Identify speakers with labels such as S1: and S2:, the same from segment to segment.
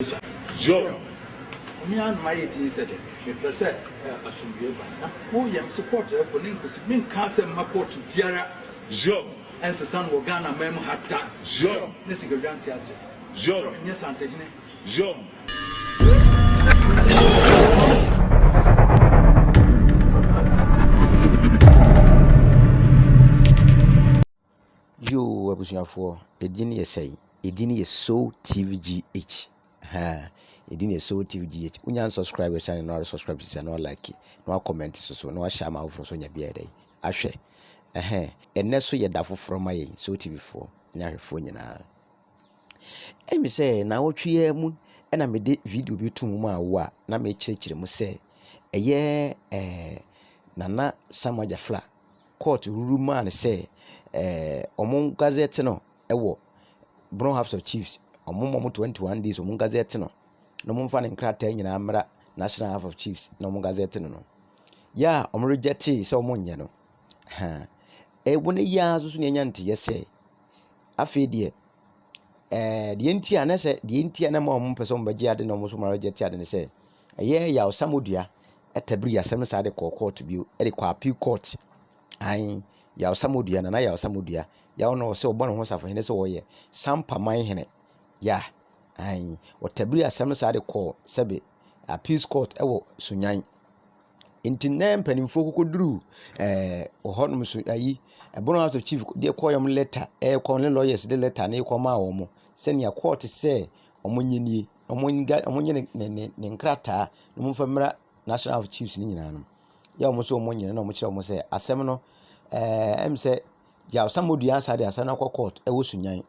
S1: Yesu
S2: Joe onua no mayɛ din sɛ dɛ mepɛ sɛ asomdwoe ba na wo yam so court ɛkɔ ne nkosi menka asɛm ma court biara Joe
S1: ɛnsesa no wɔ
S2: Ghana man mu ha da Joe ne sikadwa
S1: nte ase
S2: Joe ɛnyɛ
S1: santehene Joe
S3: Yoo abusuafoɔ edin yɛ sɛn? Edin yɛ Soul TV GH. Haa edin yɛ Soul TV GH. Wonya unsubscribe yɛ channel na wasubscribe sisi na walike na wakɔmɛnte so so na wahyɛ ama afoforɔ so nya bi ayɛ dɛ ahwɛ. Ɛhɛn ɛnɛ so yɛ da foforɔ ma yɛn Soul TV foɔ ne ahwɛfoɔ nyinaa. Ɛmi sɛ naawɔtwe yɛ mu ɛna mede video bi to mu ma awo a na mekyerɛkyerɛ mu sɛ ɛyɛ ɛɛ Nana Samuel Jafla court ruru maa no sɛ ɛɛ wɔn gazette no wɔ Bono House of Chiefs. Wɔma wɔn twenty one days wɔn gazette no na wɔmfa ne nkrataa nyinaa mmra National House of Chiefs na wɔn gazette no no. Yɛ a wɔn rejɛtee sɛ wɔn nyɛ no, ha ɛwɔ nnɛ yi ara nso na yɛanya nteeɛ sɛ afei deɛ. deɛ nti a na sɛ deɛ nti a na ma wɔn mpɛ sɛ wɔn bɛgye ade na wɔn nso wɔn agye ade ne sɛ ɛyɛ yaw samodua ɛtabiri asɛm no saa de kɔɔ kɔɔto bio ɛde kɔɔ appeal court aane yaw samodua nana yaw samodua yaw no ɔsɛ ɔbɔ ne ho safohene sɛ ɔyɛ sampa man hene yeah aane ɔtabiri asɛm no saa de kɔɔ sɛbe. Appeals court wɔ Sunyani. Nti nnɛ mpanimfoɔ kɔkɔduru ɛɛ hɔnom so ayi Bono House of Chief de kɔeɛ no lɛta rekɔ ne lawyers de lɛta no rekɔ ama wɔn sɛdeɛ court sɛ wɔnyɛ nie. Wɔnga wɔnyɛ ne ne ne ne nkrataa na wɔmfa mmra National House of Chiefs no nyinaa no. Yɛ a wɔn nso wɔnyɛ no na wɔkyerɛ wɔn sɛ asɛm no ɛɛ ɛm sɛ Gyao Samuel Duah Ansah de asɛm no akɔ court wɔ Sunyani.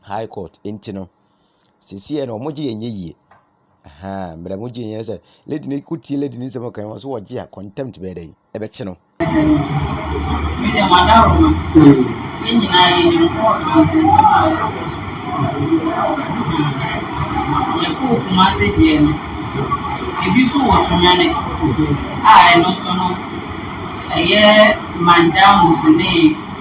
S3: High court nti no, seesei no wɔgye yɛn nyɛ yie. Ahaa mmerɛ wɔgye yɛn nyɛ yie sɛ lady no ko tie lady no nsɛm ɔka wɔn so wɔgye a contempt bɛyɛ dɛn ɛbɛkye no.
S4: Me deɛ madaworo no yɛn nyinaa yɛnim court nsɛnsɛm a ɛrekɔ so. Yɛkɔɔ Kumase deɛ no ebi so wɔ Sunyane a ɛno nso no ɛyɛ Mandamus ne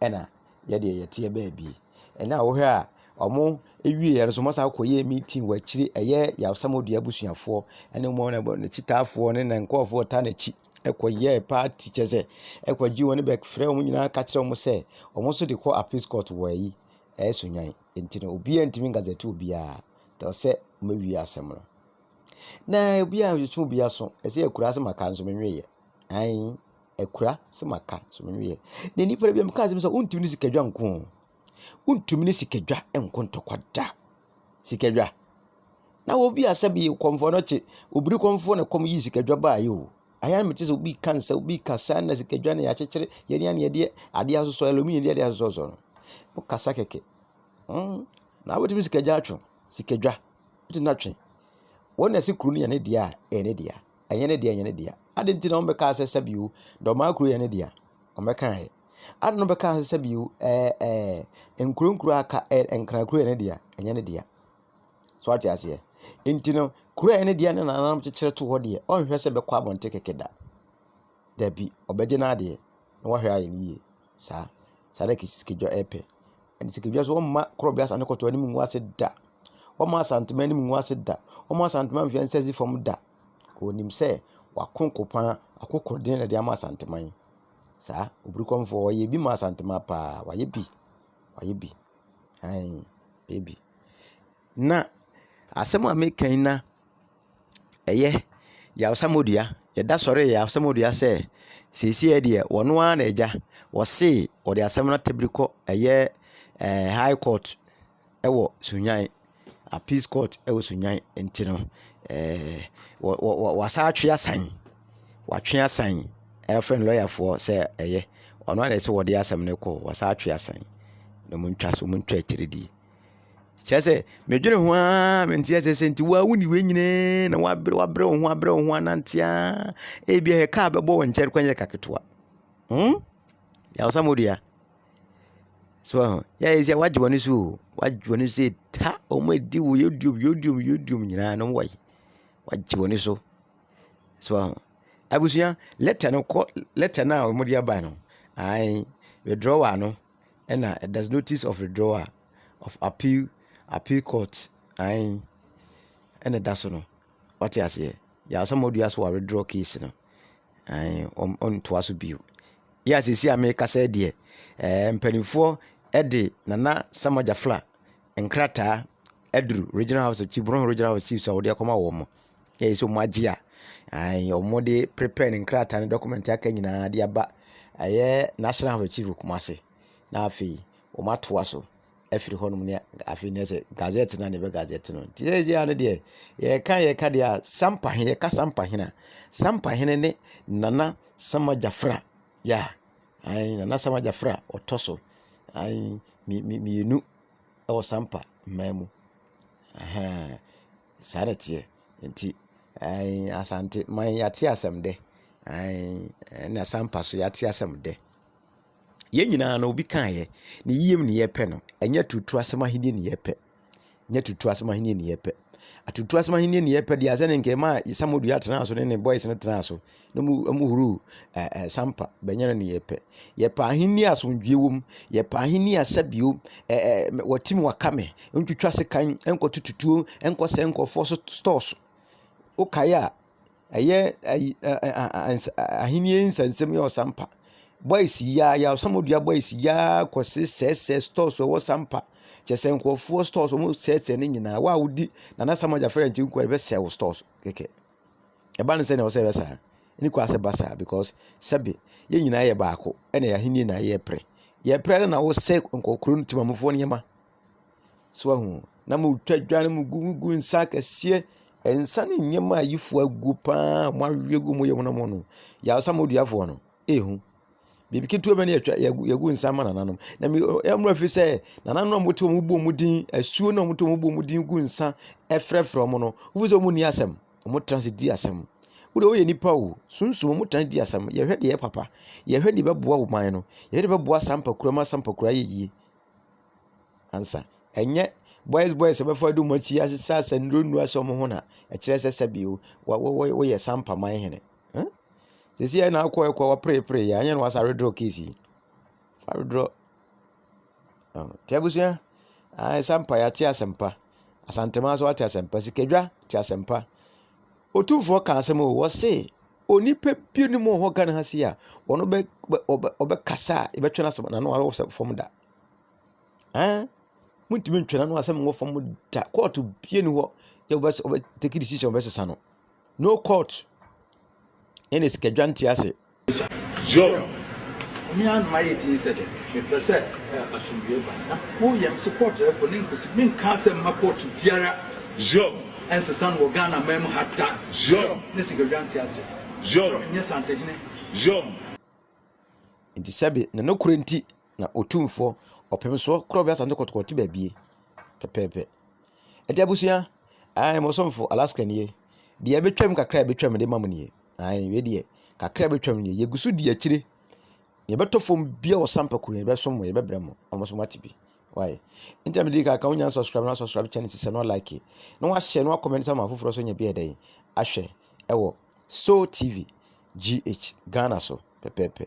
S3: ɛna yɛ deɛ yɛteɛ baabi. Ɛna wohwɛ a ɔmo wieɛ no nso ɔmo asan akɔyɛ meeting wɔ akyire ɛyɛ Yaw Samoduya abusuafoɔ ɛne wɔn ne n'akyitaafoɔ ne ne nkorɔfoɔ a wɔtaa n'akyi ɛkɔyɛ party kyerɛ sɛ ɛkɔgye wɔn bɛ frɛ wɔn nyinaa ka kyerɛ wɔn sɛ wɔn nso de kɔ appeals court wɔ ayi ɛyɛ Sunyani nti no obiara ntumi nka sɛ ɛte obiara tɔ sɛ wɔawie asɛm no na obiara ntwe obiara aso ɛsɛ yɛ akuraase maka nso menweeɛ. Ae, akura sɛ maka nso menwie. Na nnipa no binom kaa sɛ sɛ wontumi ne sikadwa nko o, wontumi ne sikadwa nko ntɔkwa da. Sikadwa. Na obi a sɛbi kɔmfoɔ no kye, obiri kɔmfoɔ na ɛkɔm yii sikadwa baeɛ o. Ɛyɛ a na mete sɛ obi reka nsɛm, obi reka sɛ na sikadwa no yɛakyekyere, yɛn ara na yɛde adeɛ asosɔ, aluminium de adeɛ asosɔsosɔ no. Wokasa kɛkɛ. Mm, na wobɛtumi sikadwa atwe, sikadwa, wobɛtumi atwe. Wɔn na ɛse kuro no yɛ ne dea a, ɛyɛ ne dea. Ɛnyɛ ne dea, ɛnyɛ ne dea. Ade nti na wɔn bɛkaa sɛ sɛbi o, dɔmaa kuro yɛ ne dea. Wɔn bɛkaeɛ. Ade no bɛkaa sɛ sɛbi o, ɛɛ ɛɛ nkuro nkuro aka ɛɛ nkran kuro yɛ ne dea, ɛnyɛ ne dea. So ate aseɛ? Nti no, kuro yɛ ne dea ne nananom kyekyere to hɔ deɛ, ɔnhwɛ sɛ bɛkɔ abɔnten kɛkɛ da. Dabi, ɔbɛgye n'adeɛ na wahwɛ ayɛ ne yie. Saa saa na sikadwa yɛ pɛ. Ɛnna sikadwa nso wɔmma korɔbea asase no kɔtɔɔ anim ngu ase da. Wɔmma Asantuma anim ngu ase da. Wɔmma Asantuma nhwɛ nsɛsi fam da. Wɔnim sɛ wɔako nko pa ara, akokoɔden na wɔde ama Asantuma yi. Saa obiri kɔmfoɔ ɔyɛ bi ma Asantuma pa ara, wayɛ bi, wayɛ bi, aane, wayɛ bi. Na asɛm a meka yi na. Ɛyɛ, Yaw Samodua, yɛda sɔre Yaw Samodua sɛ seesei deɛ wɔn ara na agya. Wɔse wɔde asɛm no atabiri kɔ ɛyɛ ɛɛ High Court ɛwɔ Sunyani, Appeals Court ɛwɔ Sunyani nti no ɛɛ wɔ wɔ wɔ wɔasan atwe asan. Wɔatwe asan ɛrefrɛ no lɔyafoɔ sɛ ɛyɛ wɔn ara na ɛsɛ sɛ wɔde asɛm no kɔ, wɔasan atwe asan. Wɔntwa so, wɔntwa akyire die. kyerɛ sɛ medwene ho ara mente asɛ sɛ nti woa woni wei nyinaa na wabrɛ wabrɛ wo ho abrɛ wo ho anante a ebi a kaa bɛbɔ wo nkyɛn kwan yɛ kaketewa hmm yawsa modua so ɛho yɛ ayɛ sɛ wagye w'ani so o wagye w'ani so ta wɔn adi wo yodiom yodiom yodiom nyinaa no wɔyɛ wagye w'ani so so ɛho abusua lɛtɛ no kɔ lɛtɛ no a wɔde aba no ae withdraw ano. ɛna there's notice of withdrawal of appeal appeal court ae ɛna ɛda so no wate aseɛ yeah somebody has to withdraw case no ae ɔntoa so bio yɛ a seesei a merekasa yi deɛ ɛɛ mpanimfoɔ de Nana Sama Gyafla nkrataa aduru regional house of chiefs Brong regional house of chiefs a wɔde akɔma wɔn. Gye sɛ wɔn agye a ae wɔde prepare ne nkrataa ne document aka nyinaa de aba ɛyɛ National House of Chiefs wɔ Kumasi. Na afei wɔn atoa so afiri hɔ nom ne afei ne sɛ gazette no a na ɛbɛ gazette no. Nti seesei ara no deɛ yɛka yɛka deɛ a Sampahene yɛka Sampahene a Sampahene ne Nana Sama Gyafra yɛ a ae Nana Sama Gyafra ɔtɔ so ae mmienu wɔ Sampa mmaa mu. Ahaa. Saa na ɛteɛ. Nti ɛɛn Asanteman yɛate asɛm dɛ. Ɛɛn ɛna Asampa nso yɛate asɛm dɛ. Yɛn nyinaa no obi kaeɛ. Ne yiem na yɛpɛ no. Ɛnyɛ aturutu asɛm ahennie na yɛpɛ. Ɛnyɛ aturutu asɛm ahennie na yɛpɛ. Aturutu asɛm ahennie na yɛpɛ deɛ asɛ ne nka ɛmaa Samuel Duah tenaa so ne ne boys no tenaa so na mu wɔhoroo ɛ ɛ sampa bɛnyɛ no neyɛ pɛ. Yɛpɛ ahenni a asomdwoeɛ wom. Yɛpɛ ahenni a sɛbio ɛ ɛ wɔtim wɔaka me, ntwitwa sekan, nkɔtoto tuo, nkɔsɛe nkurɔfoɔ so store so. Wokae a, ɛyɛ ayi ɛ ɛ a a ns ahenni nsɛnsɛm yɛ ɔsampa. Boys yi ara yɛ a, Osamodua boys yi ara kɔsesɛesɛe stores a ɛwɔ sampa. Kyerɛ sɛ nkurɔfoɔ stores wɔsɛesɛe ne nyinaa. Wo a wodi Nana Sam Agyafrɛ nkyɛn nko ara na ɛbɛsɛe wo stores kɛkɛ. Ɛba no sɛnea ɛwɔ sɛ ɛyɛ saa. Ne kɔ asɛ ba saa because sɛbe yɛn nyinaa yɛ baako ɛna yɛn ahenni na yɛpere. Yɛpere no na wɔsɛ nkɔkoro no timamufoɔ nneɛma. So ahu na mo twa dwa no mo gu mo gu nsa kɛseɛ nsa ne nneɛma a yifoɔ agu paa mo ahwe gu mo yɛ wɔn mo no. Yasa mo duafoɔ no. ehu. Biribi ketewa bi na yɛatwa yɛagu yɛagu nsa ama nananom. Na me ɔ ɛyɛ mmerɛw efisɛ nananom a wɔte hɔ a wɔbɔ wɔn din, asuo no a wɔte hɔ a wɔbɔ wɔn din gu nsa frɛfrɛ wɔn no, wohu sɛ wɔnni asɛm. Wɔtra ase di asɛm. Wo deɛ woyɛ nipa o, sunsum wɔtra ase di asɛm. Yɛhwɛ deɛ ɛyɛ papa. Yɛhwɛ deɛ ɛbɛboa ɔman no. Yɛhwɛ deɛ ɛbɛboa Asampakura ma Asampakura ayɛ yie ansa. Ɛnyɛ boys boys a wɔbɛfa adi wɔn akyi asesa asɛnnuo nnuro ahyɛ wɔn ho na ɛkyerɛ sɛ sɛbi o, wɔ wɔ wɔyɛ Asampaman hene. Ɛ? Sisi yɛ na akɔ ɛkɔ waprepre yɛ anyɛ na wasa redraw case yi. Fa redraw. Oh. Ti abusua. Ah, sampa ya te asɛmpa. Asantema so ate asɛmpa. Sikadwa te asɛmpa. Otumfoɔ ka asɛm o, wɔse onipa bi ne mu hɔ Ghana ha si a, wɔn bɛ ɔbɛ ɔbɛkasa a yɛbɛtwe n'asɛm n'ano awɔ sɛ fam da. Ɛn? Muntumi ntwe n'ano asɛm wɔ fam da. Kɔɔto bie ni hɔ yɛ wɔbɛ wɔbɛ take decision wɔbɛsesa no. No court ɛna sika dwa nte ase. Yo
S2: mea no mayɛ din sɛ dɛ mepɛ sɛ asomdwie ba na wo yɛ mese court ɛkɔ ne nkosi menka asɛm ma court biara yo
S1: ɛnsesa no wɔ
S2: Ghana man mu ha da yo ne sika
S1: dwa nte ase
S2: yo ɛnyɛ
S1: santehene
S2: yo
S3: nti sɛbe na no korɛ nti Na Otumfoɔ, Ɔpemsoɔ korɔ bɛ asante kɔtɔkɔ te baabie. Pɛpɛɛpɛ. Ɛti abusua, ae mo somfo Alaska nie. Deɛ ɛbɛtwam kakra ɛbɛtwam de ma mo nie. Ae, wei deɛ, kakra ɛbɛtwam nie. Yɛgu so di akyire. Yɛbɛtɔ fam bia wɔ sampa kuro yɛbɛsom mo, yɛbɛbrɛ mo. Ɔmo so mo ate bi. Why? Nti na mede ka ka wonya subscribe na subscribe channel sisɛ na like. Na wahyɛ na wakɔmɛn sɛ ma afoforɔ so nyɛ bi ɛdɛn. Ahwɛ ɛwɔ Soul TV GH Ghana so pɛpɛɛpɛ.